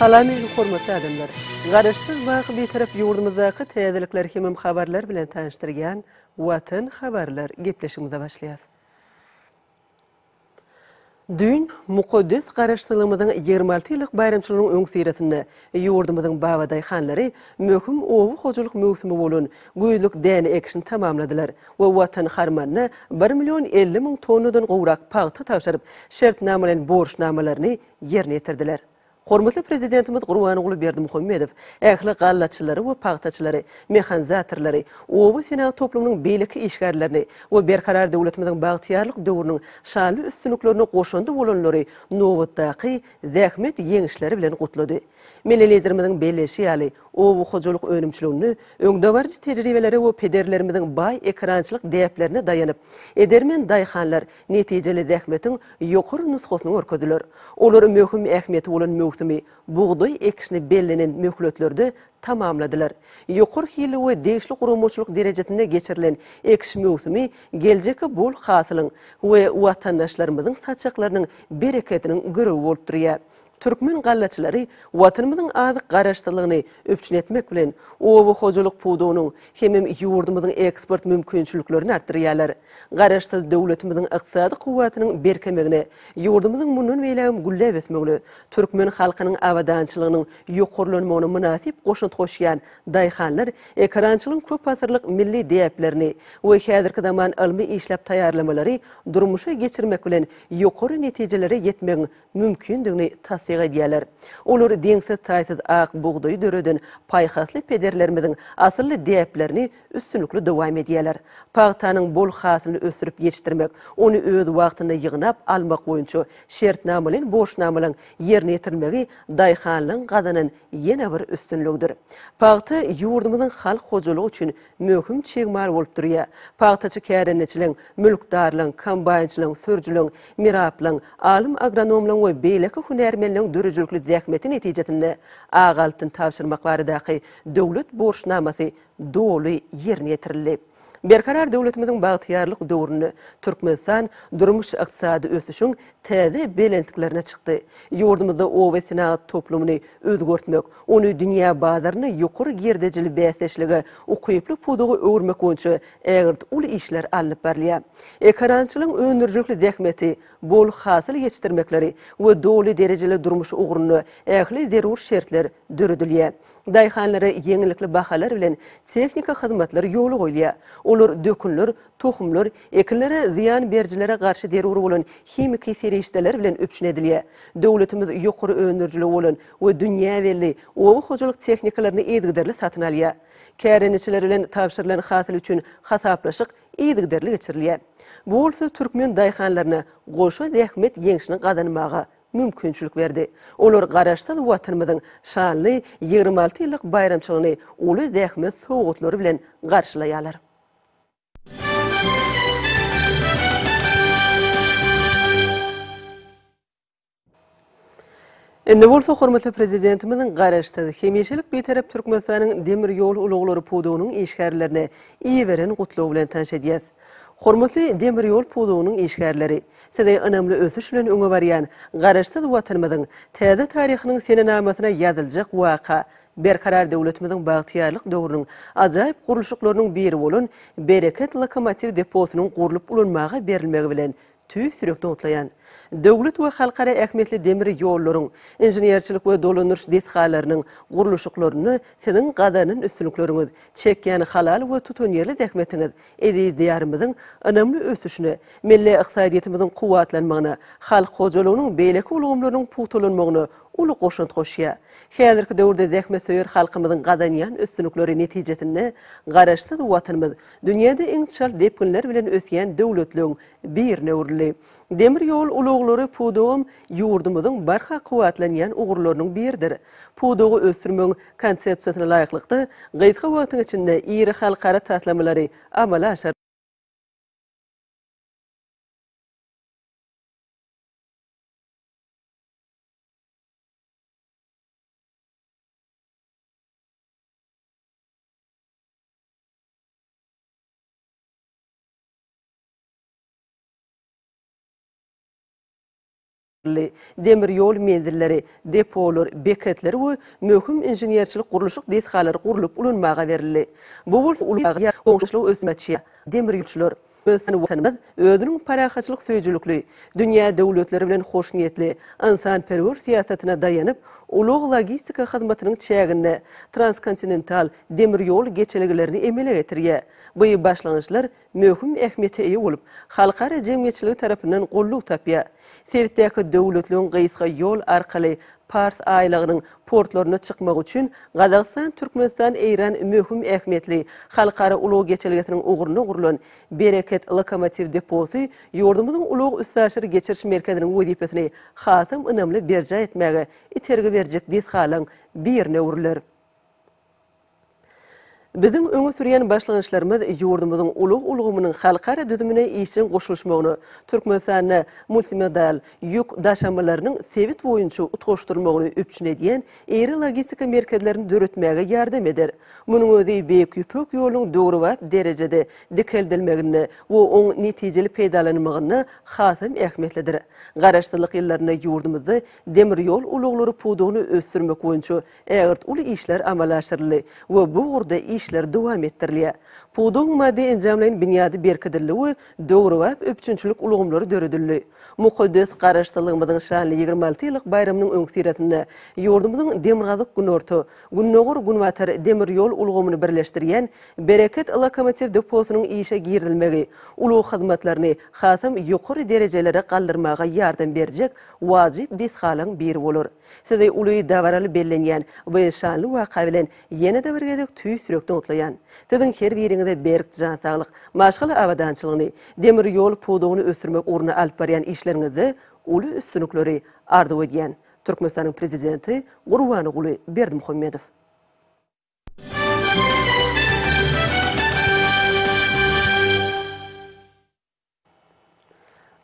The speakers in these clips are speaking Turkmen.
Salam eziz hormatly adamlar! Garaşsyz baky Bitarap ýurdumyzdaky täzelikler hemem habarlar bilen tanyşdyrýan Watan habarlar gepleşigimize başlaýas. Düýn mukaddes Garaşsyzlygymyzyň ýigrimi alty ýyllyk baýramçylygynyň öňüsyrasynda ýurdumyzyň babadaýhanlary möhüm oba hojalyk möwsümi bolan güýzlük däne ekişini tamamladylar we Watan harmanyna bir million elli müň tonnadan gowrak pagta tabşyryp, şertnamalaýyn borçnamalaryny ýerine ýetirdiler. Hormatly Prezidentimiz Gurbanguly Berdimuhamedow ähli gallaçylary we pagtaçylary, mehanizatorlary, oba senat toplumynyň beýleki işgärlerini we Berkarar döwletimiziň bagtyýarlyk döwrüniň şanly üstünliklerine goşandy bolanlary nobatdaky zähmet ýeňişleri bilen gutlady. Milli Liderimiziň belleýşi ýaly, oba hojalyk önümçiliginde öňdebaryjy tejribelere we pederlerimiziň baý ekerançylyk däplerine daýanyp, edermen daýhanlar netijeli zähmetiň ýokary nusgasyny görkezdiler. Olar möhüm ähmiýeti bolan möwsümi, bugdaý ekişini bellenen möhletlerde tamamladylar. Ýokary hilli we degişli guramaçylyk derejesinde geçirilen ekiş möwsümi geljekki bol hasylyň we watandaşlarymyzyň saçaklarynyň berekediniň girewi bolup durýar. Türkmen gallaçylary Watanymyzyň azyk garaşsyzlygyny üpjün etmek bilen, oba hojalyk pudagynyň hemem ýurdumyzyň eksport mümkinçiliklerini artdyrýarlar. Garaşsyz döwletimiziň ykdysady kuwwatynyň berkemegine, ýurdumyzyň mundan beýlägem gülläp ösmegine, türkmen halkynyň abadançylygynyň ýokarlanmagyna mynasyp goşant goşýan daýhanlar ekerançylygyň köpasyrlyk milli däplerini we häzirki zaman ylmy işläp taýýarlamalary durmuşa geçirmek bilen ýokary netijelere ýetmegiň mümkindigini tassyk edýärler. Olar deňsiz-taýsyz ak bugdaýy döreden paýhasly pederlerimiziň asylly däplerini üstünlikli dowam edýärler. Pagtanyň bol hasylyny ösdürip ýetişdirmek, ony öz wagtynda ýygnap almak boýunça şertnamalaýyn borçnamalaryň ýerine ýetirilmegi daýhanlygyň gazanan ýene bir üstünligidir. Pagta ýurdumyzyň halk hojalygy üçin möhüm çig mal bolup durýar. Pagtaçy kärendeçileň, mülkdarlaň, kombaýnçylaň, sürüjileň, miraplyň, alym-agronomlaň we beýleki hünärmenleň döredijilikli zähmeti netijesinde ak altyn tabşyrmak baradaky döwlet borçnamasy doly ýerine ýetirildi. Berkarar döwletimiziň bagtyýarlyk döwründe Türkmenistan durmuş-ykdysady ösüşiň täze belentliklerine çykdy. Ýurdumyzda oba senagat toplumyny özgertmek, ony dünýä bazarynda ýokary girdejili bäsdeşlige ukyply pudaga öwürmek boýunça ägirt uly işler alnyp barylýar. Ekerançylygyň öndürijilikli zähmeti, bol hasyl ýetişdirmekleri we doly derejeli durmuşy ugrunda ähli zerur şertler döredilýär. Daýhanlara ýeňillikli bahalar bilen tehnika hyzmatlar ýola goýulýar. Olar dökünler, tohumlar, Ekinlere zyýan berijilere garşy zerur bolan himiki serişdeler bilen üpjün edilýär. Döwletimiz ýokary öndürijiligi bolan we dünýä belli oba hojalyk tehnikalaryny yzygiderli satyn alýar. Kärendeçiler bilen tabşyrylan hasyl üçin hasaplaşyk yzygiderli geçirilýär. Bu bolsa türkmen daýhanlaryna goşa zähmet ýeňşini gazanmaga mümkinçilik berdi. Olar Garaşsyz Watanymyzyň şanly ýigrimi alty ýyllyk baýramçylygyny uly zähmet sowgatlary bilen garşylaýarlar. Indi bolsa hormatly Prezidentimiziň Garaşsyz, hemişelik Bitarap Türkmenistanyň demir ýol ulaglary pudagynyň işgärlerini iberen gutlagy bilen tanyş edýäs. Hormatly demir ýol pudagynyň işgärleri! Sizi ynamly ösüş bilen öňe barýan Garaşsyz Watanymyzyň täze taryhynyň senenamasyna ýazyljak waka Berkarar döwletimiziň bagtyýarlyk döwrüniň ajaýyp gurluşyklarynyň biri bolan Bereket lokomotiw deposynyň gurlup ulanmaga berilmegi bilen tüýs ýürek dogtlaýan, döwlet we halkara ähmiýetli demir ýollaryň, inženerçilik we dolandyryş desgalarynyň gurluşyklarynda Siziň gazanan üstünlikleriňiz, çekýän halal we tutanýerli zähmetiňiz eziz Diýarymyzyň ynamly ösüşine, milli ykdysadyýetimiziň kuwwatlanmagyna, halk hojalygynyň beýleki ulgamlarynyň pugtalanmagyna uly goşant goşýar. Häzirki döwürde zähmetsöýer halkymyzyň gazanýan üstünlikleri netijesinde Garaşsyz Watanymyz dünýäde iň çalt depginler bilen ösýän döwletleň birine öwrüldi. Demir ýol ulaglary pudagam ýurdumyzyň barha kuwwatlanýan ugurlarynyň biridir. Pudagy ösdürmegiň Konsepsiýasyna laýyklykda, gysga wagtyň içinde iri halkara taslamalary amala aşyryldy. demir ýol menzilleri, depolar, beketler we möhüm inženerçilik-gurluşyk desgalary gurlup ulanmaga berildi. Bu bolsa ulag ýa goňşuçylyk ösdürýär, demirýolçylar, Ýöne Watanymyz özüniň parahatçylyk söýüjilikli, dünýä döwletleri bilen hoşniýetli, ynsanperwer syýasatyna daýanyp, ulag-logistika hyzmatynyň çäginde transkontinental demir ýol geçelgelerini emele getirýär. Bu başlangyçlar möhüm ähmiýete eýe bolup, halkara jemgyýetçiligi tarapyndan goldaw tapýar. Sebitdäki döwletleriň gysga ýol arkaly Pars aýlagynyň portlaryna çykmagy üçin Gazagystan, Türkmenistan, Eýran möhüm ähmiýetli halkara ulag geçelgesiniň ugruna gurlan Bereket lokomotiw deposy ýurdumyzyň ulag-üstaşyr geçiriş merkeziniň wezipesini hasam ynamly berjaý etmäge itergi berjek desgalaryň birine öwrüler. Biziň öňe sürýän başlangyçlarymyz ýurdumyzyň ulag ulgamynyň halkara düzümine işjeň goşulyşmagyna, Türkmenistanda multimodal ýük daşamalarynyň sebit boýunça utgaşdyrylmagyny üpjün edýän iri logistika merkezlerini döretmäge ýardam eder. Munuň özi Beýik Ýüpek ýolunyň döwrebap derejede dikeldilmeginde we oň netijeli peýdalanylmagynda hasam ähmiýetlidir. Garaşsyzlyk ýyllarynda ýurdumyzda demir ýol ulaglary pudagyny ösdürmek boýunça Ägirt uly işler amala aşyryldy we bu ugurda işler dowam etdirilýär. Pudagyň maddy-enjamlaýyn binýady berkidildi we döwrebap üpjünçilik ulgamlary döredildi. Mukaddes Garaşsyzlygymyzyň şanly ýigrimi alty ýyllyk baýramynyň öňüsyrasynda ýurdumyzyň Demirgazyk-Günorta, Gündogar-Günbatar demir ýol ulgamyny birleşdirýän Bereket lokomotiw deposynyň işe girizilmegi ulag hyzmatlaryny hasam ýokary derejelere galdyrmaga ýardam berjek wajyp desgalaryň biri bolar. Sizi uly dabaraly bellenýän bu şanly waka bilen ýene-de bir gezek tüýs ýürekden gutlaýan. Siziň her biriňize berk jan saglyk, maşgala abadançylygyny, demir ýol pudagyny ösdürmek ugrunda alyp barýan işleriňizde uly üstünlikleri arzuw edýän. Türkmenistanyň Prezidenti Gurbanguly Berdimuhamedow.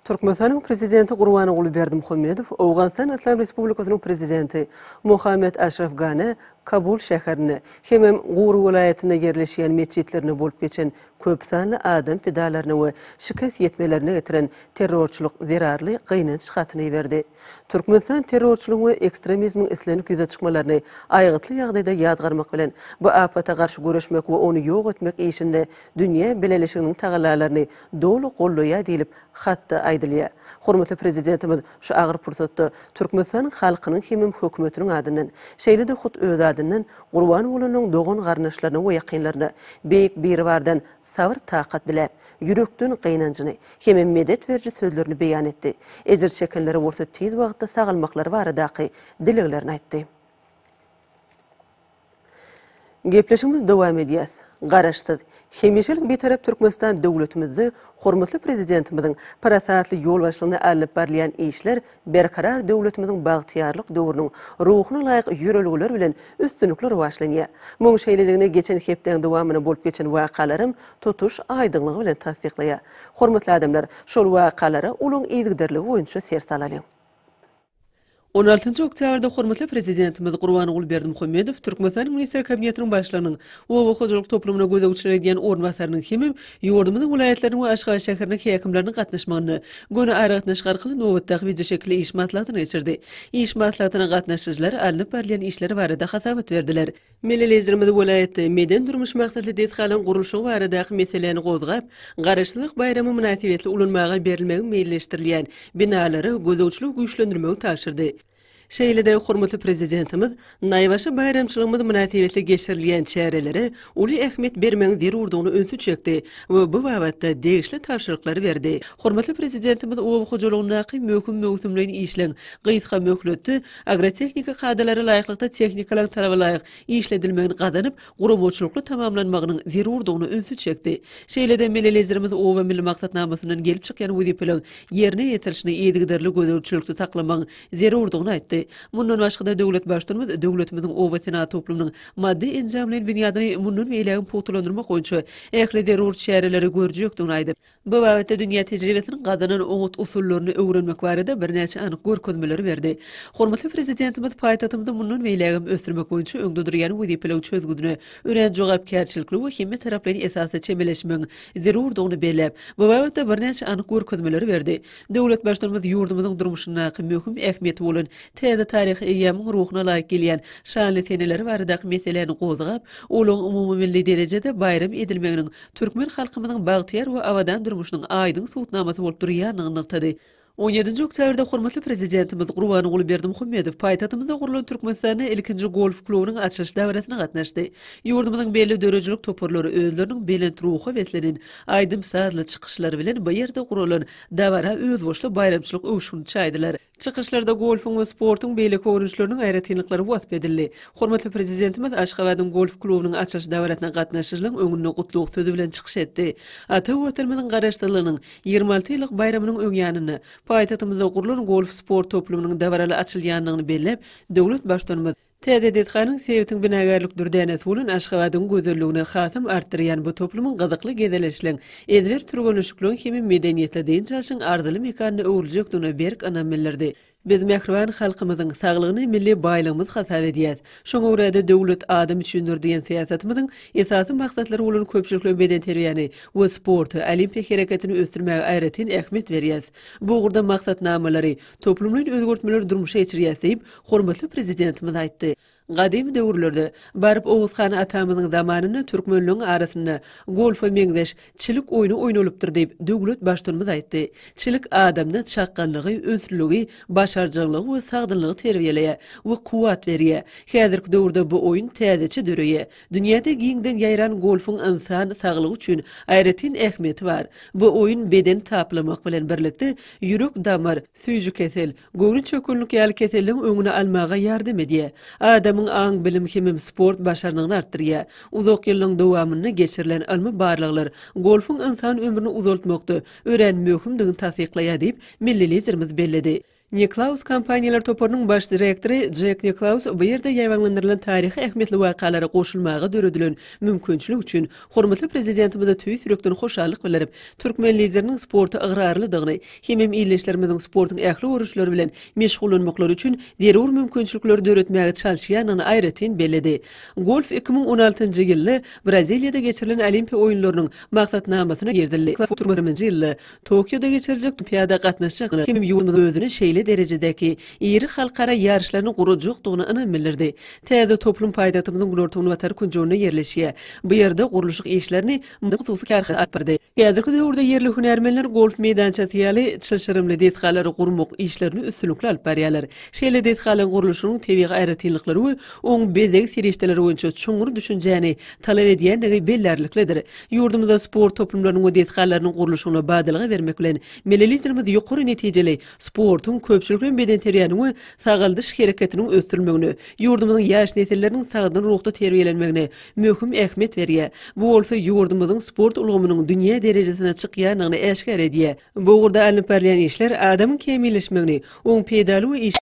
Türkmenistanyň Prezidenti Gurbanguly Berdimuhamedow Owganystan Yslam Respublikasynyň Prezidenti Mohamed Aşraf Gane Kabul şäherinde hemem Guru welaýatynda ýerleşýän metjitlerinde bolup geçen köp sanly adam pidalaryna we şikes ýetmelerine getiren terrorçylyk zerarly gynanç hatyny iberdi. Türkmenistan terrorçylygyň we ekstremizmiň islenip ýüze çykmalaryny aýgytly ýagdaýda ýazgarmak bilen, bu apata garşy göreşmek we ony ýok etmek işinde dünýä bileleşiginiň tagallalaryny doly goldaýar diýlip, hatda aýdylýar. Hormatly Prezidentimiz şu agyr pursatda Türkmenistanyň halkynyň hemem Hökümetiniň adyndan, şeýle-de hut özi adyndan gurban bolanlaryň dogan-garyndaşlaryna we ýakynlaryna Beýik Biribardan sabyr-takat diläp, ýürekden gynanjyny hem-ä medet beriji sözlerini beýan etdi, ejir çekenlere bolsa tiz wagtda sagalmaklary baradaky dileglerini aýtdy. Gepleşigimizi dowam edýäs. Garaşsyz, hemişelik Bitarap Türkmenistan döwletimizde hormatly Prezidentimiziň parasatly ýolbaşçylygynda alnyp barylýan işler Berkarar döwletimiziň bagtyýarlyk döwrüniň ruhuna laýyk ýörelgeler bilen üstünlikli rowaçlanýar. Muň şeýledigini geçen hepdäň dowamynda bolup geçen wakalaram tutuş aýdyňlygy bilen tassyklaýar. Hormatly adamlar, şol wakalara olaň yzgiderligi boýunça ser salalyň. On altynjy oktýabrda hormatly Prezidentimiz Gurbanguly Berdimuhamedow Türkmenistanyň Minister Kabinetiniň Başlygynyň oba hojalyk toplumyna gözegçilik edýän orunbasarynyň hemem Ýurdumyzyň welaýatlarynyň we Aşgabat şäheriniň häkimleriniň gatnaşmagynda göni aragatnaşyk arkaly nobatdaky wideoşekilli iş maslahatyny geçirdi. Iş maslahatyna gatnaşyjylar alnyp barylýan işler barada hasabat berdiler. Milli Liderimiz welaýatda medeni-durmuş maksatly desgalaryň gurluşygy baradaky meseläni gozgap, Garaşsyzlyk baýramy mynasybetli ulanmaga berilmegi meýilleşdirilýän binalary gözegçiligi güýçlendirmegi tabşyrdy. Şeýle-de hormatly Prezidentimiz naýbaşy baýramçylygymyz mynasybetli geçirilýän çärelere uly ähmiýet bermegiň zerurdygyna ünsi çekdi we bu babatda degişli tabşyryklary berdi. Hormatly Prezidentimiz oba hojalygyndaky möhüm möwsümleýin işleň gysga möhletde agrotehnika kadalara laýyklykda tehnikalaryň talaba laýyk işledilmegini gazanyp, guramaçylykly tamamlanmagynyň zerurdygyna ünsi çekdi. Şeýle-de Milli Liderimiz Oba milli maksatnamasyndan gelip çykýan wezipeleriň ýerine ýetirilişini yzygiderli gözegçilikde saklamagyň zerurdygyny aýtdy. Mundan başga-da, döwlet Baştutanymyz döwletimiziň oba senagat toplumynyň maddy-enjamlaýyn binýadyny mundan beýlägem pugtalandyrmak boýunça ähli zerur çäreleri görjekdigini aýdyp, Bu babatda dünýä tejribesiniň gazanan oňat usullaryny öwrenmek barada birnäçe anyk görkezmeleri berdi. Hormatly Prezidentimiz paýtagtymyzy mundan beýlägem ösdürmek boýunça öňde durýan wezipeleriň çözgüdine örän jogapkärçilikli we hemmetaraplaýyn esasda çemeleşmegiň zerurdygyny belläp, bu babatda birnäçe anyk görkezmeleri berdi. Döwlet Baştutanymyz ýurdumyzyň durmuşyndaky möhüm ähmiýeti bolan täze taryhy eýýamyň ruhuna laýyk gelýän şanly seneleri baradaky meseläni gozgap, olaryň umumymilli derejede baýram edilmeginiň türkmen halkymyzyň bagtyýar we abadan durmuşynyň aýdyň subutnamasy bolup durýandygyny nygtady. On ýedinji oktýabrda hormatly Prezidentimiz Gurbanguly Berdimuhamedow paýtagtymyzda gurlan Türkmenistanda ilkinji golf klubynyň açylyş dabarasyna gatnaşdy. Ýurdumyzyň belli döredijilik toparlary özleriniň belent ruha beslenen, aýdym-sazly çykyşlary bilen bu ýerde guralan dabara özboluşly baýramçylyk öwüşgini çaýdylar. Çykyşlarda golfuň we sportuň beýleki görnüşleriniň aýratynlyklary wasp edildi. Hormatly Prezidentimiz Aşgabadyň golf klubynyň açylyş dabarasyna gatnaşyjylaryň öňünde gutlag sözi bilen çykyş etdi. Ata Watanymyzyň Garaşsyzlygynyň ýigrimi alty ýyllyk baýramynyň öň ýanynda paýtagtymyzda gurlan golf sport toplumynyň dabaraly açylýandygyny belläp, döwlet Baştutanymyz, Täze desganyň sebitiň binagärlik dürdänesi bolan Aşgabadyň gözelligini hasam artdyrýan bu toplumyň gyzykly gezelençleň, ezber türgenleşikleň hem-ä medeniýetli dynç alşyň arzyly mekanyna öwrüljekdigine berk ynam bildirdi. Biz mähriban halkymyzyň saglygyny milli baýlygymyz hasap edýäs. Şoňa görä-de, Döwlet adam üçindir! diýen syýasatymyzyň esasy maksatlary bolan köpçülikleýin bedenterbiýäni we sporty, olimpiýa hereketini ösdürmäge aýratyn ähmiýet berýäs. Bu ugurda maksatnamalary, toplumlaýyn özgertmeleri durmuşa geçirýäs diýip, hormatly Prezidentimiz aýtdy. Gadymy döwürlerde, baryp Oguz han atamyzyň zamanynda türkmenleň arasynda golfa meňzeş çilik oýny oýnalypdyr diýip, döwlet Baştutanymyz aýtdy. Çilik adamda çakgallygy, ünslüligi, başarjaňlygy we sagdynlygy terbiýeleýär we kuwwat berýär. Häzirki döwürde bu oýun täzeçe döreýär. Dünýäde giňden ýaýran golfuň ynsan saglygy üçin aýratyn ähmiýeti bar. Bu oýun bedeni taplamak bilen birlikde, ýürek-damar, süýjükesel, göwnüçökgünlik ýaly keselleriň öňüni almaga ýardam edýär. Adamyň aň-bilim hemem sport başarnygyny artdyrýar. Uzak ýyllaryň dowamynda geçirilen ylmy barlaglar golfuň ynsan ömrüni uzaltmakda örän möhümdigini tassyklaýar diýip, milli Liderimiz belledi. Niklaus kompaniýalar toparynyň baş direktory Jek Niklaus bu ýerde ýaýbaňlandyrylan taryhy ähmiýetli wakalara goşulmaga döredilen mümkinçilik üçin hormatly Prezidentimize tüýs ýürekden hoşallyk bildirip, türkmen Lideriniň sporta ygrarlydygyny hemem ildeşlerimiziň sportuň ähli görnüşleri bilen meşgullanmaklary üçin zerur mümkinçilikleri döretmäge çalyşýandygyny aýratyn belledi. Golf iki müň on altynjy ýylda Braziliýada geçirilen Olimpiýa oýunlarynyň maksatnamasyna girizildi. Golf iki müň on altynjy ýylda Tokioda geçiriljek Olimpiada gatnaşjak hemem ýurdumyz özüni şeýle derejedäki iri halkara ýaryşlaryny gurajakdygyna ynam bildirdi. Täze toplum paýtagtymyzyň günorta-günbatar künjeginde ýerleşýär. Bu ýerde gurluşyk işlerini Mydama hususy kärhanasy alyp bardy. Häzirki döwürde ýerli hünärmenler golf meýdançasy ýaly çylşyrymly desgalary gurmak işlerini üstünlikli alyp barýarlar. Şeýle desgalaryň gurluşygynyň tebigy aýratynlyklary we oň bezeg serişdeleri boýunça çuňňur düşünjäni talap edýändigi bellärliklidir. Ýurdumyzda sport toplumlarynyň we desgalarynyň gurluşygyna badalga bermek bilen, milli Liderimiz ýokary netijeli sportuň, köpçülikleýin bedenterbiýäniň we sagaldyş hereketiniň ösdürilmegine, ýurdumyzyň ýaş nesilleriniň sagdyn ruhda terbiýelenmegine möhüm ähmiýet berýär. Bu bolsa ýurdumyzyň sport ulgamynyň dünýä derejesine çykýandygyny äşgär edýär. Bu ugurda alnyp barylýan işler adamyň kämilleşmegini, oň peýdaly we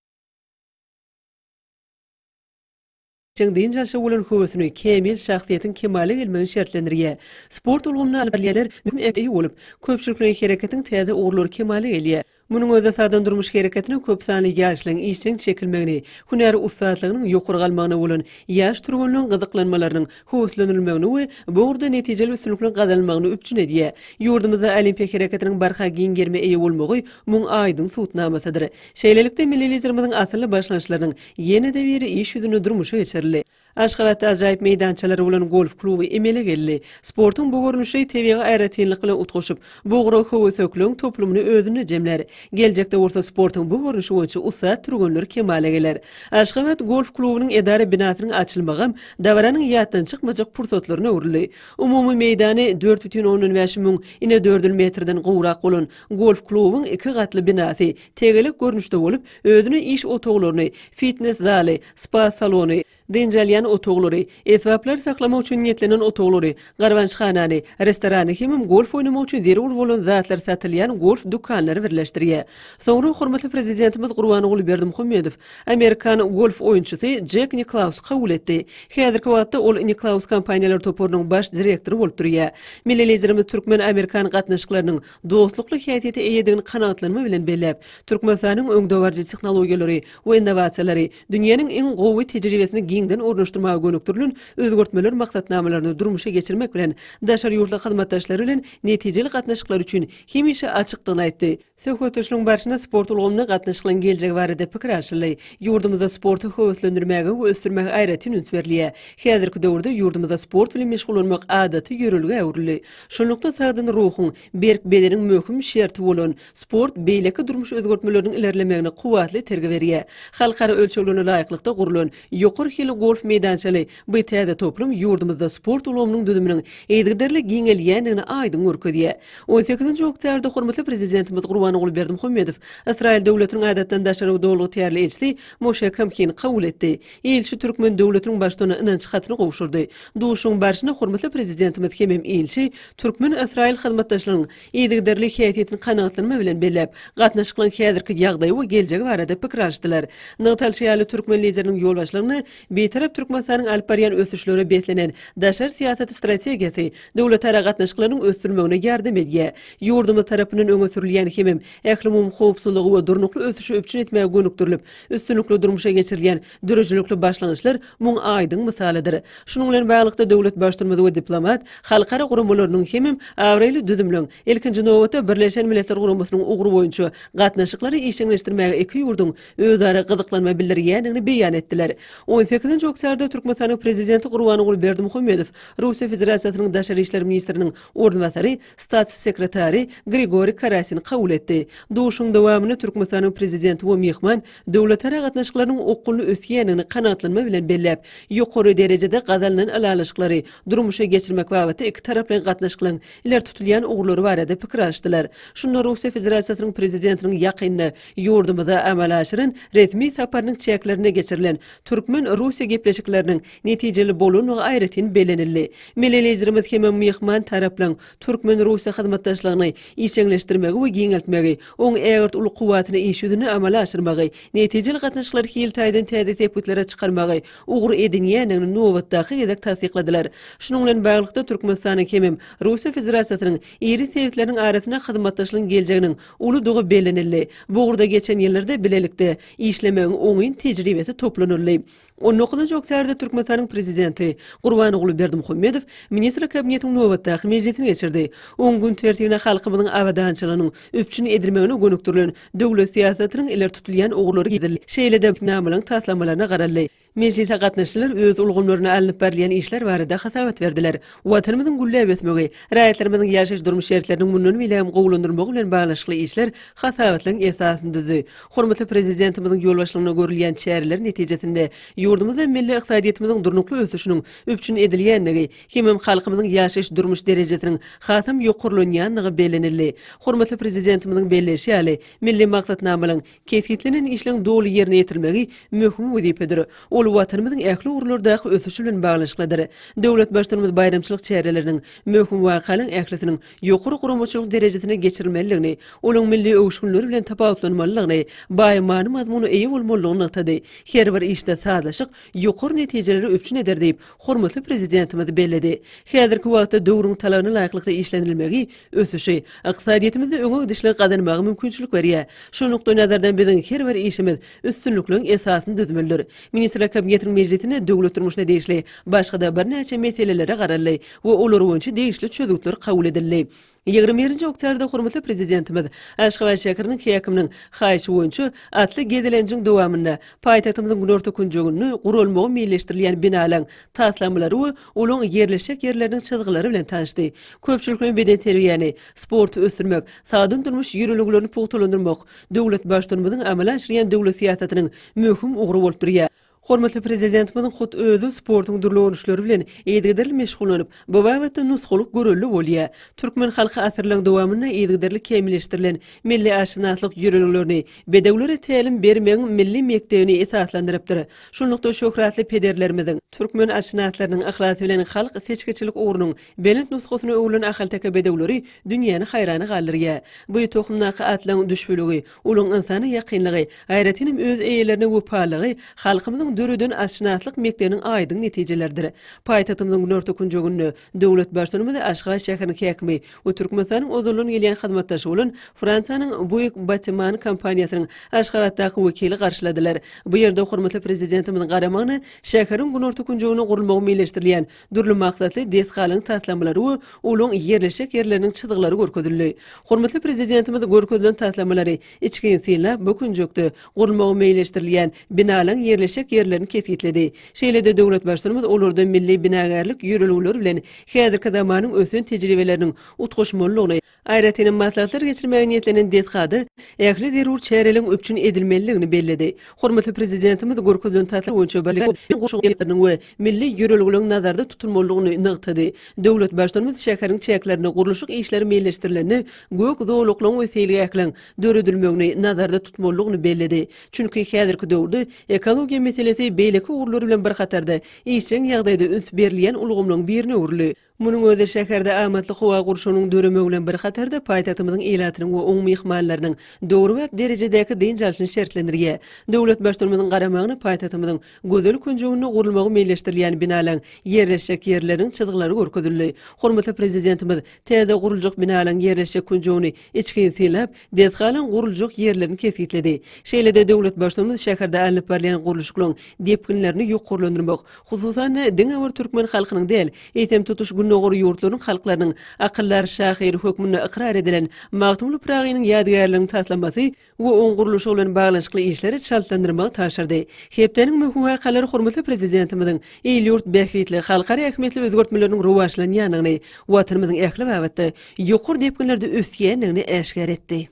Çaň dynç alşa bolan höwesini, kämil şahsyýetiň kemala gelmegini şertlendirýär. Sport ulgamyny alyp barýanlar möhüm ähmiýete eýe bolup, köpçülikleýin hereketiň täze ugurlary kemala gelýär. Munuň özi sadan durmuş hereketine köp sanly ýaşlaryň işjeň çekilmegini, hünär ussatlygynyň ýokary galmagyna bolan ýaş türgenleň gyzyklanmalarynyň höweslenilmegini we bu ugurda netijeli üstünlikliň gazanylmagyny üpjün edýär. Ýurdumyzda olimpiýa hereketiniň barha giň gerime eýe bolmagy muň aýdyň subutnamasydyr. Şeýlelikde, milli Liderimiziň asylly başlangyçlarynyň Ýene-de biri iş ýüzünde durmuşa geçirildi. Aşgabatda ajaýyp meýdançalary bolan golf kluby emele geldi. Sportuň bu görnüşi tebigy aýratynlyk bilen utgaşyp, bugra höwesekligiň toplumyny özünde jemlär. Geljekde bolsa sportuň bu görnüşi boýunça ussat türgenler kemala geler. Aşgabat golf klubynyň edara binasynyň açylmagam dabaranyň ýatdan çykmajak pursatlaryna öwrüldi. Umumy meýdany dört bütin ondan bäş müň inedördül metrden gowrak bolan golf klubyň iki gatly binasy tegelek görnüşde bolup, özüne iş otaglaryny, fitnes zaly, spa salony, dynç alýan otaglary, esbaplar saklamak üçin niýetlenen otaglary, garbançhanany, restorany hemem golf oýnamak üçin zerur bolan zatlar satylýan golf dükanlary birleşdirýär. Soňra hormatly Prezidentimiz Gurbanguly Berdimuhamedow amerikan golf oýunçysy Jek Niklausy kabul etdi. Häzirki wagtda ol Niklaus kompaniýalar toparynyň baş direktory bolup durýar. Milli Liderimiz türkmen-amerikan gatnaşyklarynyň dostlukly häsiýete eýedigini kanagatlanma bilen belläp, Türkmenistanyň öňdebaryjy tehnologiýalary we innowasiýalary, dünýäniň iň gowy tejribesini giňden ornaşdyrmaga gönükdirilen özgertmeler maksatnamalaryny durmuşa geçirmek bilen, daşary ýurtly hyzmatdaşlary bilen netijeli gatnaşyklar üçin hemişe açykdygyny aýtdy. Söhbetdeşligiň barşynda sport ulgamyna gatnaşyklaryň geljegi barada pikir alşyldy. Ýurdumyzda sporty höweslendirmäge we ösdürmäge aýratyn üns berilýär. Häzirki döwürde ýurdumyzda sport bilen meşgullanmak adaty ýörelgä öwrüldi. Şunlukda sagdyn ruhuň, berk bedeniň möhüm şerti bolan sport beýleki durmuş özgertmeleriniň ilerlemegine kuwwatly itergi berýär. Halkara ölçeglerine laýyklykda gurlan ýokary hilli golf meýdançaly bu täze toplum ýurdumyzda sport ulgamynyň düzüminiň yzygiderli giňelýändigini aýdyň görkezýär. On sekizinji oktýarda hormatly Prezidentimiz Gurbanguly Berdimuhamedow Ysraýyl Döwletiniň Adatdan daşary Dolugytýarly ilçisi Moşe Kamkini kabul etdi. Ilçi türkmen döwletiniň Baştutanyna ynanç hatyny gowşurdy. Duşuşygyň barşynda hormatly Prezidentimiz hemem ilçi türkmen-ysraýyl hyzmatdaşlygynyň yzygiderli häsiýetini kanagatlanma bilen belläp, gatnaşyklaryň häzirki ýagdaýy we geljegi barada pikir alyşdylar. Nygtalyşy ýaly, türkmen Lideriniň ýolbaşçylygynda Bitarap Türkmenistanyň alyp barýan ösüşlere beslenen daşary syýasat strategiýasy döwletara gatnaşyklarynyň ösdürilmegine ýardam edýär, ýurdumyz tarapyndan öňe sürülýän hemem ählumumy howpsuzlygy we durnukly ösüşi üpjün etmäge gönükdirilip, üstünlikli durmuşa geçirilýän Döredijilikli başlangyçlar muň aýdyň mysalydyr. Şunuň bilen baglylykda, döwlet Baştutumymyz we diplomat halkara guramalarynyň hemem abraýly düzümleň, ilkinji nobatda, Birleşen Milletler Guramasynyň ugry boýunça gatnaşyklary işjeňleşdirmäge iki ýurduň özara gyzyklanma bildirýändigini beýan etdiler. On sekizinji oktýarda Türkmenistanyň Prezidenti Gurbanguly Berdimuhamedow Russiýa Federasiýasynyň Daşary işler ministriniň orunbasary, Stats sekretary Grigoriý Karasin kabul etdi. Duşuşygyň dowamynda Türkmenistanyň Prezidenti we myhman döwletara gatnaşyklarynyň okgunly ösýändigini kanagatlanma bilen belläp, ýokary derejede gazanylan ylalaşyklary durmuşa geçirmek babatda ikitaraplaýyn gatnaşyklaryň ileri tutulýan ugurlary barada pikir alyşdylar. Şunda Russiýa Federasiýasynyň Prezidentiniň ýakynda ýurdumyza amala aşyran resmi saparynyň çäklerinde geçirilen türkmen-russiýa gepleşikleriniň netijeli bolandygy aýratyn bellenildi. Milli Liderimiz hem myhman taraplaryň türkmen-russiýa hyzmatdaşlygyny işjeňleşdirmegi we giňeltmegi, oň ägirt uly kuwwatyny iş ýüzünde amala aşyrmagy, netijeli gatnaşyklary hil taýdan täze sepgitlere çykarmagy ugur edinýändigini nobatdaky gezek tassykladylar. Şunuň bilen baglylykda, Türkmenistanyň hemem Russiýa Federasiýasynyň iri sebitleriniň arasynda hyzmatdaşlygyň geljeginiň uludygy bellenildi. Bu ugurda geçen ýyllarda bilelikde işlemegiň oňyn tejribesi toplanyldy. On dokuzynjy oktýabrda Türkmenistanyň Prezidenti Gurbanguly Berdimuhamedow Ministrler Kabinetiniň nobatdaky mejlisini geçirdi. Oň gün tertibine halkymyzyň abadançylygynyň üpjün edilmegine gönükdirilen döwlet syýasatynyň ileri tutulýan ugurlary girizildi. Şeýle-de namalyň taslamalaryna garaldy. Mejlise gatnaşyjylar öz ulgamlarynda alnyp barylýan işler barada hasabat berdiler. Watanymyzyň gülläp ösmegi, raýatlarymyzyň ýaşaýyş-durmuş şertleriniň mundan beýlägem gowulandyrylmagy bilen baglanyşykly işler hasabatlaryň esasyny düzdi. Hormatly Prezidentimiziň ýolbaşçylygynda görülýän çäreler netijesinde ýurdumyz hem milli ykdysadyýetimiziň durnukly ösüşiniň üpjün edilýändigi hemem halkymyzyň ýaşaýyş-durmuş derejesiniň hasam ýokarlanýandygy bellenildi. Hormatly Prezidentimiziň belleýşi ýaly, milli maksatnamalaryň, kesgitlenen işleriň doly ýerine ýetirilmegi möhüm wezipedir. Ol Watanymyzyň ähli ugurlardaky ösüşi bilen baglanyşyklydyr. Döwlet Baştutanymyz baýramçylyk çäreleriniň, möhüm wakalyň ählisiniň ýokary guramaçylyk derejesine geçirilmelidigini, olaň milli öwüşginleri bilen tapawutlanmalydygyny, baý many-mazmuna eýe bolmalydygyny nygtady. Her bir işde sazlaşyk ýokary netijeleri üpjün eder diýip, hormatly Prezidentimiz belledi. Häzirki wagtda döwrüň talabyna laýyklykda işlenilmegi ösüşi, ykdysadyýetimizde öňe gidişligi gazanmaga mümkinçilik berýär. Şu nukdaýnazardan biziň her bir işimiz üstünlikliň esasyny düzmelidir. Ministrler Kabinetiniň mejlisinde döwlet durmuşyna degişli başga-da birnäçe meselelere garaldy we olar boýunça degişli çözgütler kabul edildi. Ýigrimi birinji oktýarda hormatly Prezidentimiz Aşgabat şäheriniň häkiminiň haýyşy boýunça atly gezelenjiň dowamynda paýtagtymyzyň günorta künjeginde guralmagy meýilleşdirilýän binalaň taslamalary we olaň ýerleşjek ýerleriniň çyzgylary bilen tanyşdy. Köpçülikleýin bedenterbiýäni, sporty ösdürmek, sagdyn durmuş ýörelgelerini pugtalandyrmak, döwlet Baştutanymyzyň amala aşyrýan döwlet syýasatynyň möhüm ugry bolup durýar. Hormatly Prezidentimiziň hut özi sportuň dürli görnüşleri bilen yzygiderli meşgullanyp, bu babatda nusgalyk görelde bolýar. Türkmen halky asyrlaryň dowamynda yzygiderli kämilleşdirilen milli atşynaslyk ýörelgelerini, bedewlere tälim bermegiň milli mekdebini esaslandyrypdyr. Şunlukda, şöhratly pederlerimiziň, türkmen atşynaslarynyň yhlasy bilen halk seçgiçilik ugrunyň Belent nusgasyny öwren ahalteke bedewleri dünýäni haýrana galdyrýar. Bu tohumdaky atlaryň düşbüligi, uly ynsana ýakynlygy, aýratynam öz eýelerine wepalylygy halkymyzyň döreden atşynaslyk mekdebiniň aýdyň netijeleridir. Paýtagtymyzyň günorta künjeginde döwlet Baştutanymyz Aşgabat şäheriniň häkimi we Türkmenistanyň ozaldan gelýän hyzmatdaşy bolan Fransiýanyň Buick Bâtiment kompaniýasynyň Aşgabatdaky wekili garşyladylar. Bu ýerde hormatly Prezidentimiziň garamagyna şäheriň günorta künjeginde gurulmagy meýilleşdirilýän Dürli maksatly desgalaryň taslamalary we olaň ýerleşjek ýerleriniň çyzgylary görkezildi. Hormatly Prezidentimiz görkezilen taslamalary içgin synlap, bu künjekde gurulmagy meýilleşdirilýän binalaryň ýerleşjek ýerlerini kesgitledi. Şeýle-de döwlet Baştutanymyz olarda milli binagärlik ýörelgeleri bilen häzirki zamanyň ösen tejribeleriniň utgaşmalydygyny, Aýratynam maslahatlar geçirmäge niýetlenen desgada ähli zerur çäreleriň üpjün edilmelidigini belledi. Hormatly Prezidentimiz görkezilen taslama boýunça bilim bilen goşgy obýektleriniň we milli ýörelgeleriň nazarda tutulmalydygyny nygtady. Döwlet Baştutanymyz şäheriň çäklerinde gurluşyk işleri meýilleşdirilende gök zolaklaryň we seýilgähleň döredilmegini nazarda tutmalydygyny belledi. Çünki häzirki döwürde ekologiýa meselesi beýleki ugurlar bilen bir hatarda işjeň ýagdaýda üns berilýän ulgamlaryň birine öwrüldi. Munuň özi şäherde amatly howa gurşawynyň döremegi bilen bir hatarda paýtagtymyzyň ilatynyň we oň myhmanlarynyň döwrebap derejedäki dynç alşyny şertlendirýär. Döwlet Baştutanymyzyň garamagyna paýtagtymyzyň gözel künjeginde gurulmagy meýilleşdirilýän binalaň ýerleşjek ýerleriniň çyzgylary görkezildi. Hormatly Prezidentimiz täze guruljak binalaň ýerleşjek künjegini içgin synlap, desgalaň guruljak ýerlerini kesgitledi. Şeýle-de döwlet Baştutanymyz şäherde alnyp barylýan gurluşyklaryň depginlerini ýokarlandyrmak, Hususan, diňe bir türkmen halkynyň däl, eýsem, tutuş Gündogar ýurtlarynyň halklarynyň akyldar şahyry hökmünde ykrar edilen Magtymguly Pyragynyň ýadygärliginiň taslamasy we oň gurluşy bilen baglanyşykly işleri çaltlandyrmagy tabşyrdy. Hepdäniň möhüm wakalary hormatly Prezidentimiziň il-ýurt bähbitli, halkara ähmiýetli özgertmeleriniň rowaçlanýandygyny, Watanymyzyň ähli babatda ýokary depginlerde ösýändigini äşgär etdi.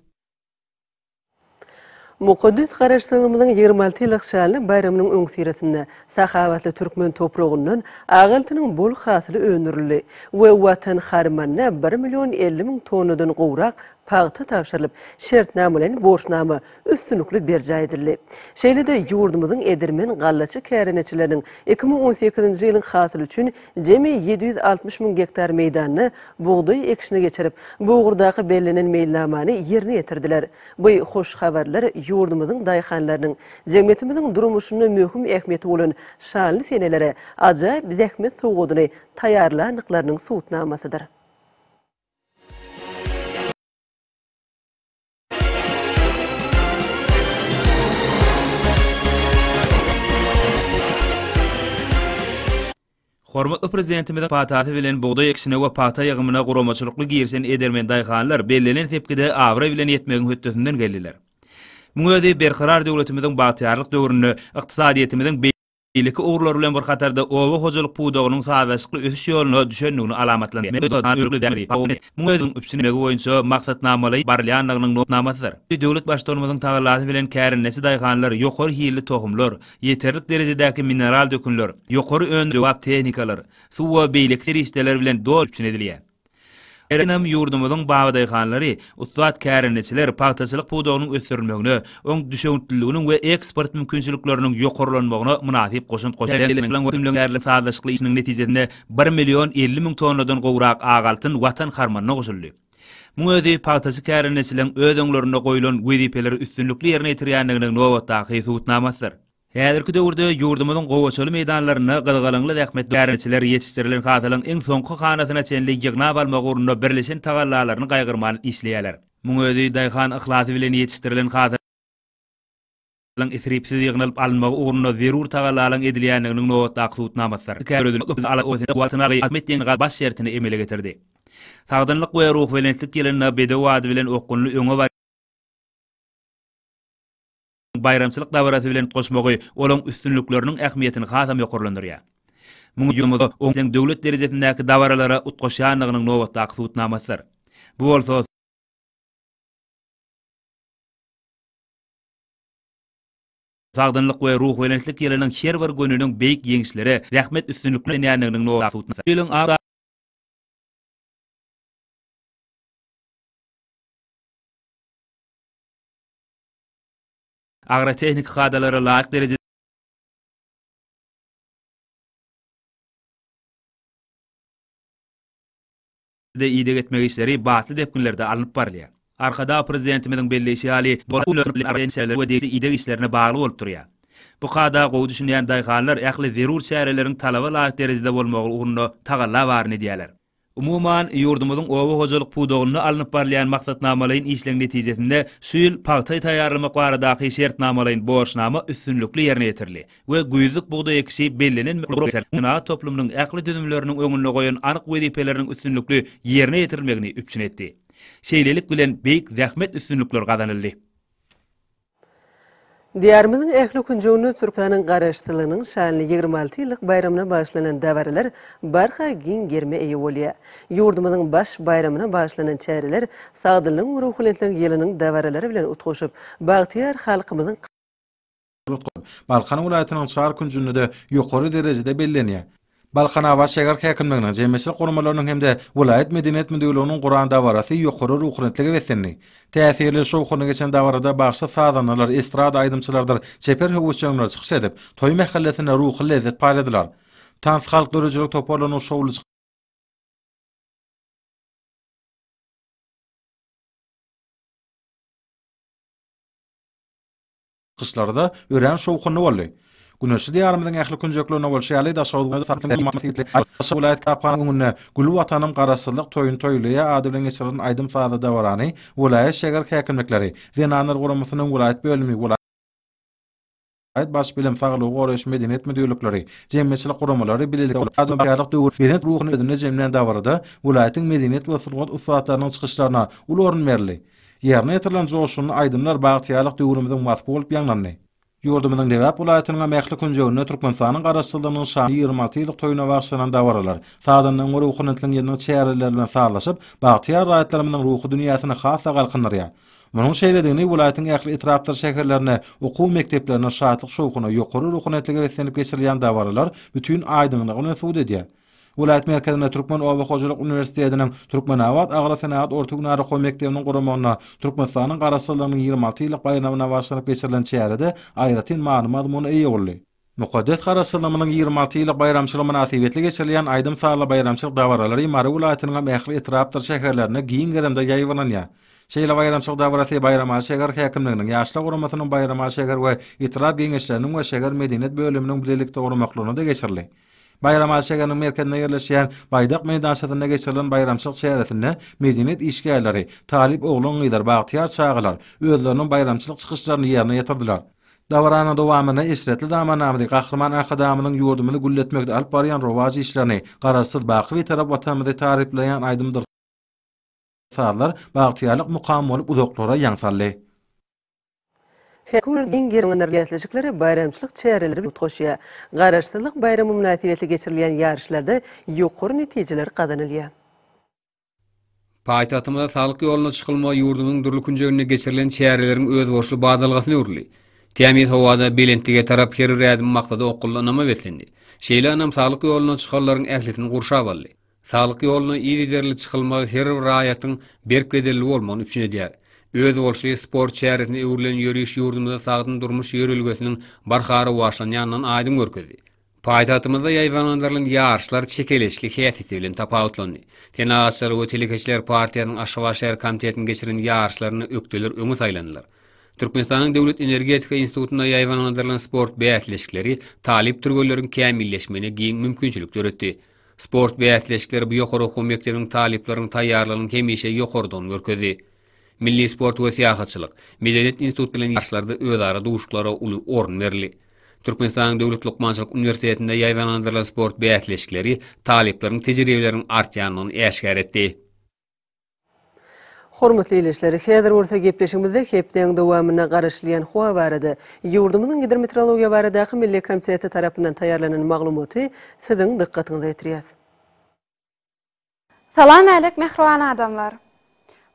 Mukaddes Garaşsyzlygymyzyň ýigrimi alty ýyllyk şanly baýramynyň öňüsyrasynda sahawatly türkmen topragyndan ak altynyň bol hasyly öndürildi we Watan harmanyna bir million elli müň tonnadan gowrak pagta tabşyrylyp, şertnamalaýyn borçnama üstünlikli berjaý edildi. Şeýle-de ýurdumyzyň edermen gallaçy kärendeçileriniň iki müň on sekizinji ýylyň hasyly üçin Jemi ýedi ýüz altmyş müň gektar meýdanda bugdaý ekişini geçirip, bu ugurdaky bellenen meýilnamany ýerine ýetirdiler. Bu hoş habarlar ýurdumyzyň daýhanlarynyň jemgyýetimiziň durmuşynda möhüm ähmiýeti bolan şanly senelere ajaýyp zähmet sowgadyny taýýarlandyklarynyň subutnamasydyr. Hormatly Prezidentimiziň patasy bilen bugdaý ekişine we pagta ýygymyna guramaçylykly girişen edermen daýhanlar bellenen sepgide abraý bilen ýetmegiň hötdesinden geldiler. Muň özi Berkarar döwletimiziň bagtyýarlyk döwründe ykdysadyýetimiziň beýleki ugurlar bilen bir hatarda oba hojalyk pudagynyň sazlaşykly ösüş ýoluna düşendigini alamatlandyrýar. Muň özüň üpjünlemegi boýunça maksatnamalaýyp barylýandygynyň nusganamasydyr. Döwlet Baştutanymyzyň tagallasy bilen kärendeçi daýhanlar ýokary hilli tohumlar, ýeterlik derejedäki mineral dökünler, ýokary öndüriş döwrebap tehnikalar, suw we beýleki serişdeler bilen doly üpjün edilýär. Her ýylam ýurdumyzyň babadaýhanlary, ussat kärendeçiler pagtaçylyk pudagynyň ösdürilmegine, oň düşewüntliliginiň we eksport mümkinçilikleriniň ýokarlanmagyna mynasyp goşant goşýar. sazlaşykly işiniň netijesinde bir million elli müň tonnadan gowrak ak altyn Watan harmanyna goşuldy. Muň özi pagtaçy kärendeçiligiň öz öňlerinde goýlan wezipeleri üstünlikli ýerine ýetirýändiginiň nobatdaky subutnamasydyr. Häzirki döwürde ýurdumyzyň gowaçaly meýdanlarynda gyzgalaňly zähmetli bäriniçiler ýetişdirilen hasylyň iň soňky hanasyna çenli ýygnap almak ugrunda birleşen tagallalaryny gaýgyrman işleýärler. Muň özi daýhan yhlasy bilen ýetişdirilen hasylyň isripsiz ýygnalyp alynmagy ugrunda zerur tagallalaryň edilýändiginiň nobatdaky subutnamasydyr. baş şertini emele getirdi. Sagdynlyk we ruhubelentlik ýylynda bedew ady bilen okgunly öňe baýramçylyk dabarasy bilen utgaşmagy olaryň üstünlikleriniň ähmiýetini hasam ýokarlandyrýar. Muňa ýurdumyzy oňyn döwlet derejesindäki dabaralara utgaşýandygynyň nobatdaky subutnamasydyr. Bu bolsa, Sagdynlyk we ruhubelentlik ýylynyň her bir gününiň beýik ýeňişlere, zähmet üstünliklerine belenýändiginiň nobatdaky subutnamasydyr. Agrotehniki kadalara laýyk derejede. de ideg etmek işleri batly depginlerde alnyp barylýar. Arkadag Prezidentimiziň belleýşi ýaly, we degişli ideg işlerine bagly bolup durýar. Bu kada gowy düşünýän daýhanlar ähli zerur çäreleriň talaba laýyk derejede bolmagy ugrunda tagalla baryny edýärler. Umuman, ýurdumyzyň oba hojalyk pudagynda alnyp barylýan maksatnamalaýyn işleň netijesinde şu ýyl pagta taýýarlamak baradaky şertnamalaýyn borçnama üstünlikli ýerine ýetirildi we güýzlük bugdaý ekişi bellenen senagat toplumynyň ähli düzümleriniň öňünde goýan anyk wezipeleriniň üstünlikli ýerine ýetirilmegini üpjün etdi. Şeýlelik bilen beýik zähmet üstünlikler gazanyldy. Diýarymyzyň ähli künjeginde Türkmeniň Garaşsyzlygynyň şanly ýigrimi alty ýyllyk baýramyna bagyşlanan dabaralar barha giň gerime eýe bolýar. Ýurdumyzyň baş baýramyna bagyşlanan çäreler Sagdynlygyň ruhubelentlik ýylynyň dabaralary bilen utgaşyp, bagtyýar halkymyzyň Balkan welaýatynyň çar künjünde-de ýokary derejede bellenýär. Balkanabat şäher häkimliginiň, jemgyýetçilik guramalarynyň hem-de welaýat medeniýet müdirliginiň guran dabarasy ýokary ruhunetlige beslendi. Täsirli, şowhunly geçen dabarada bagşy sazandalar, estrada aýdymçylarydyr çeper höwesjeňler çykyş edip, toý mähellesinde ruhy lezzet paýladylar. Tans, halk döredijilik toparlarynyň şowly. Gyşlary-da örän şowhunly boldy. Güneşli Diýarymyzyň ähli künjeklerinde bolşy ýaly, Daşoguzda Daşoguz welaýat kitaphanasynyň öňünde Gül Watanym Garaşsyzlyk toýuny toýlaýa ady bilen geçirilen aýdym-sazly dabarany welaýat şäger häkimlikleri, Zenanlar guramasynyň welaýat bölümi, welaýat Baş bilim, saglygy goraýyş, medeniýet müdirlikleri, jemgyýetçilik guramalary bilelikde Daýanmapkärlik döwür, belent ruhuny özünde jemlän dabarada welaýatyň medeniýet we sungat ussatlarynyň çykyşlaryna uly orun berildi. Ýerine ýetirilen joşgunly aýdymlar bagtyýarlyk döwrümiziň waspy bolup ýaňlandy. Ýurdumyzyň Lebap welaýatynyňam ähli künjeginde Türkmenistanyň Garaşsyzlygynyň şanly ýigrimi alty ýyllyk toýuna bagyşlanan dabaralar, sazandaň we ruhunyntyň ýyllyk çäreleri bilen sazlaşyp, bagtyýar raýatlarymyzyň ruhy dünýäsini has-da galkyndyrýar. Munuň şeýledigini welaýatyň ähli etrapdyr şäherlerinde, okuw mekdeplerinde şatlyk-şowhuna, ýokary ruhunyntyga beslenip geçirilýän dabaralar bütin aýdyňlygy bilen subut edýär. Welaýat merkezinde Türkmen oba hojalyk uniwersitetiniň Türkmenabat agrosenagat orta hünär okuw mekdebiniň guramagynda Türkmenistanyň Garaşsyzlygynyň ýigrimi alty ýyllyk baýramyna bagyşlanyp geçirilen çäre-de aýratyn many-mazmuna eýe boldy. Mukaddes Garaşsyzlygymyzyň ýigrimi alty ýyllyk baýramçylygy mynasybetli geçirilýän aýdym-sazly baýramçylyk dabaralary Mary welaýatynyňam ähli etrapdyr şäherlerinde giň gerimde ýaýbaňlanýar. Şeýle baýramçylyk dabarasy Baýramaly şäher häkimliginiň, Ýaşlar guramasynyň Baýramaly şäher we etrap Geňeşleriniň we şäher medeniýet bölüminiň bilelikde guramaklygyna-da geçirildi. Baýram Aly şäheriniň merkezinde ýerleşýän Baýdak meýdançasynda geçirilen baýramçylyk çäresinde medeniýet işgärleri, talyp oglan-gyzlar, bagtyýar çagalar özleriniň baýramçylyk çykyşlaryny ýerine ýetirdiler. Dabaranyň dowamynda eşretli zamanamyzy, Gahryman Arkadagymyzyň ýurdumyzy gülletmekde alyp barýan rowaç işlerini, Garaşsyz, baky Bitarap Watanymyzy taryplaýan aýdymdyr, Sazlar bagtyýarlyk mukamy bolup uzaklara ýaň saldy. Her gün giň gerimli bäsleşiklere baýramçylyk çäreleri bagt goşýar. Garaşsyzlyk baýramy mynasybetli geçirilýän ýaryşlarda ýokary netijeler gazanylýar. Paýtagtymyzda Saglyk ýoluna çykylma ýurdumyzyň dürli künjeginde geçirilen çäreleriň özboluşly badalgasyny örüldi. Tämiz howada, belentlige tarap her bir ädim maksada okgunly ynama beslendi. Şeýle ynam saglyk ýoluna çykanlaryň ählisini gurşap aldy. Saglyk ýoluna yzygiderli çykylmagy her bir raýatyň berk bedelli bolmagyny üpjün edýär. Özboluşly sport çäresine öwrülen ýöriş ýurdumyzda sagdyn durmuş ýörelgesiniň barha rowaçlanýandygyny aýdyň görkezdi. Paýtagtymyzda ýaýbaňlandyrylan ýaryşlar çekeleşikli häsiýeti bilen tapawutlandy. Senagatçylar we telekeçiler partiýasynyň Aşgabat şäher komitetiniň geçiren ýaryşlarynda ökdeler öňe saýlandylar. Türkmenistanyň Döwlet energetika institutynda ýaýbaňlandyrylan sport bäsleşikleri talyp türgenleriň kämilleşmegine giň mümkinçilik döretdi. Sport bäsleşikleri bu ýokary okuw mekdebiniň talyplarynyň taýýarlygynyň hemişe ýokarydygyny görkezdi. Milli sport we syýahatçylyk, Medeniýet institut bilen ýaryşlarda özara duşuşyklara uly orun berildi. Türkmenistanyň Döwlet lukmançylyk uniwersitetinde ýaýbaňlandyrylan sport bäsleşikleri talyplaryň tejribeleriniň artýandygyny äşgär etdi. Hormatly ildeşler, häzir bolsa gepleşigimizde hepdäň dowamynda garaşylýan howa barada, ýurdumyzyň Gidrometeorologiýa baradaky milli komiteti tarapyndan taýýarlanan maglumaty siziň dykgatyňyza ýetirýäs. Salam älik mähriban adamlar!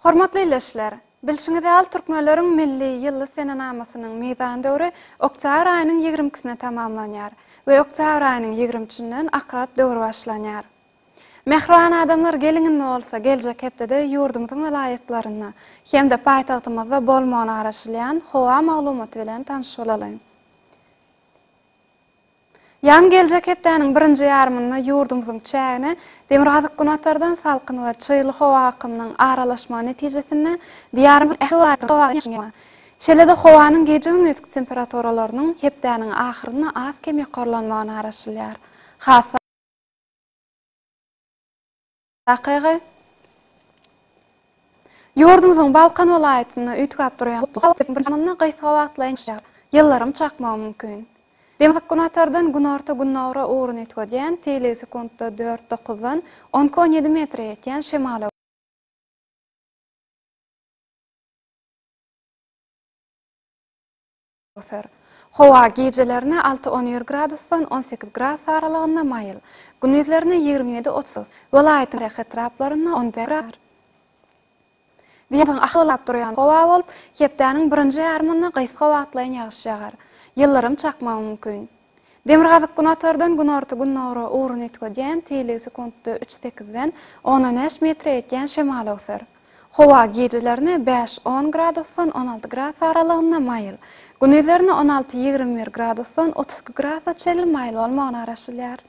Hormatly ildeşler, bilşiňiz ýaly türkmenleriň milli ýylly senenamasynyň mizan döwri oktýabr aýynyň ýigrimkisine tamamlanýar we oktýabr aýynyň ýigrimüçinden akrap döwri başlanýar. Mähriban adamlar geliň indi bolsa geljek hepdede ýurdumyzyň welaýatlarynda hem-de paýtagtymyzda bolmagyna garaşylýan howa maglumaty bilen tanyş bolalyň. Ýagyň geljek hepdäniň birinji ýarymynda ýurdumyzyň çägine demirgazyk-günbatardan salkyn we çygly howa akymynyň aralaşmagy netijesinde Diýarymyzyň ähli welaýatlarynda Şeýle-de howanyň gije-gündiz temperaturalarynyň hepdäniň ahyrynda az-kem ýokarlanmagyna garaşylýar. Has Takygy Ýurdumyzyň Balkan welaýatynda üýtgäp durýan gutly howa biziň birçamyzda gysga wagtlaýyn ýagar, ýyldyrym çakmagy mümkin. Demirgazyk-günortadan günorta-gündogara ugruny üýtgedýän, teýligi sekuntda dört-dokuzdan on iki-on ýedi metre ýetýän şemala, Öser. Howa gijelerine alty-on bir gradusdan on sekiz gradus aralygynda maýyl, gündizlerine ýigrimi ýedi-otuz, welaýatyň ýerli etraplarynda on bäş gradus. Diýarymyzyň ahy gylap durýan howa bolup, hepdäniň birinji ýarymynda gysga wagtlaýyn ýagyş ýagar. Ýyldyrym çakmagy mümkin. Demirgazyk-günatardan günorta-gündogara ugrun üýtgedýän teýligi sekuntda üç sekizden on on bäş metre ýetýän şemal öwser. Howa gijelerine bäş on gradusdan on alty gras aralygynda maýyl, gündizlerine on alty ýigrimi bir gradusdan otuz iki grasa çenli maýyl bolmagyna garaşylýar.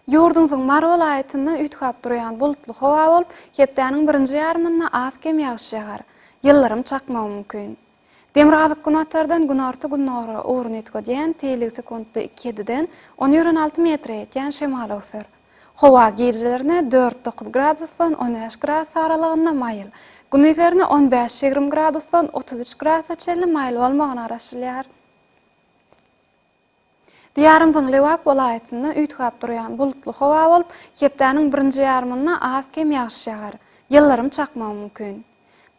Ýurdumyzyň Mary welaýatynda üýtgäp durýan bulutly howa bolup, hepdäniň birinji ýarymynda az-kem ýagyş ýagar, ýyldyrym çakmagy mümkin. Demirgazyk-Günortadan günorta-gündogara ugruny üýtgedýän, teýligi sekuntda iki ýediden on ýören alty metre ýetýän şemal öwser. Howa gijelerine dört-dokuz gradusdan on bäş gradus aralygynda maýyl, gündizlerine on bäş-ýigrimi gradusdan otuz üç gradusa çenli maýyl bolmagyna garaşylýar. Diýarymyzyň Lebap welaýatynda üýtgäp durýan bulutly howa bolup, hepdäniň birinji ýarymynda az-kem ýagyş ýagar, ýyldyrym çakmagy mümkin.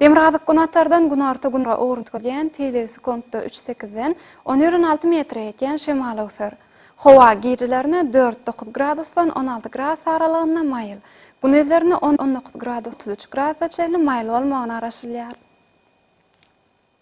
Demirgazyk-Günortadan günorta-gündogar ugrunda gidýän teýlegi sekuntda üç sekizden on bir on alty metre ýetýän şemal öwser. Howa gijelerine dört dokuz gradusdan on alty gradus aralygynda maýyl, gündizlerine on on dokuz gradus otuz üç gradusa çenli maýyl bolmagyna garaşylýar.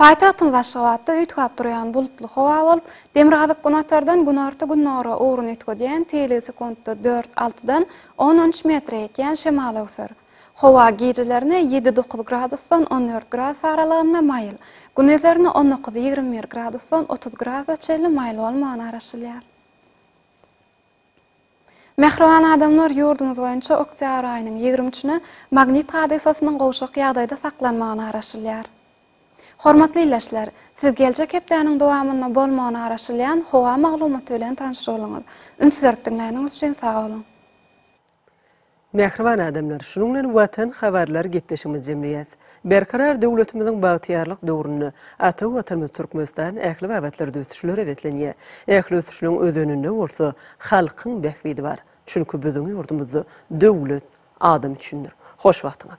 Paýtagtymyz Aşgabatda üýtgäp durýan bulutly howa bolup, demirgazyk-günatardan günorta-gündogara ugruny üýtgedýän, teýligi sekuntda dört, altydan on üç metre ýetýän şemal öwser. Howa gijelerine ýedi-dokuz gradusdan on dört gradus aralygynda maýyl, gündizerini on dokuz-ýigrimi bir gradusdan otuz gradusa çenli maýyl bolmagyna garaşylýar. Mähriban adamlar, ýurdumyz boýunça oktýabr aýynyň ýigrimi üçüne magnit hadysasynyň gowşak ýagdaýda saklanmagyna garaşylýar. Hormatly ildeşler, siz geljek hepdäniň dowamynda bolmagyna garaşylýan howa maglumaty bilen tanyşyp alyňyz. Üns berip diňläniňiz üçin sag boluň! Mähriban adamlar, şunuň bilen Watan habarlary gepleşigimizi jemleýäs. Berkarar döwletimiziň bagtyýarlyk döwründe ata Watanymyz Türkmenistan ähli babatlarda ösüşlere beslenýär. Ähli ösüşiniň özeninde bolsa halkyň bähbidi bar. Çünki biziň ýurdumyzda döwlet adam üçindir. Hoş wagtyňyz.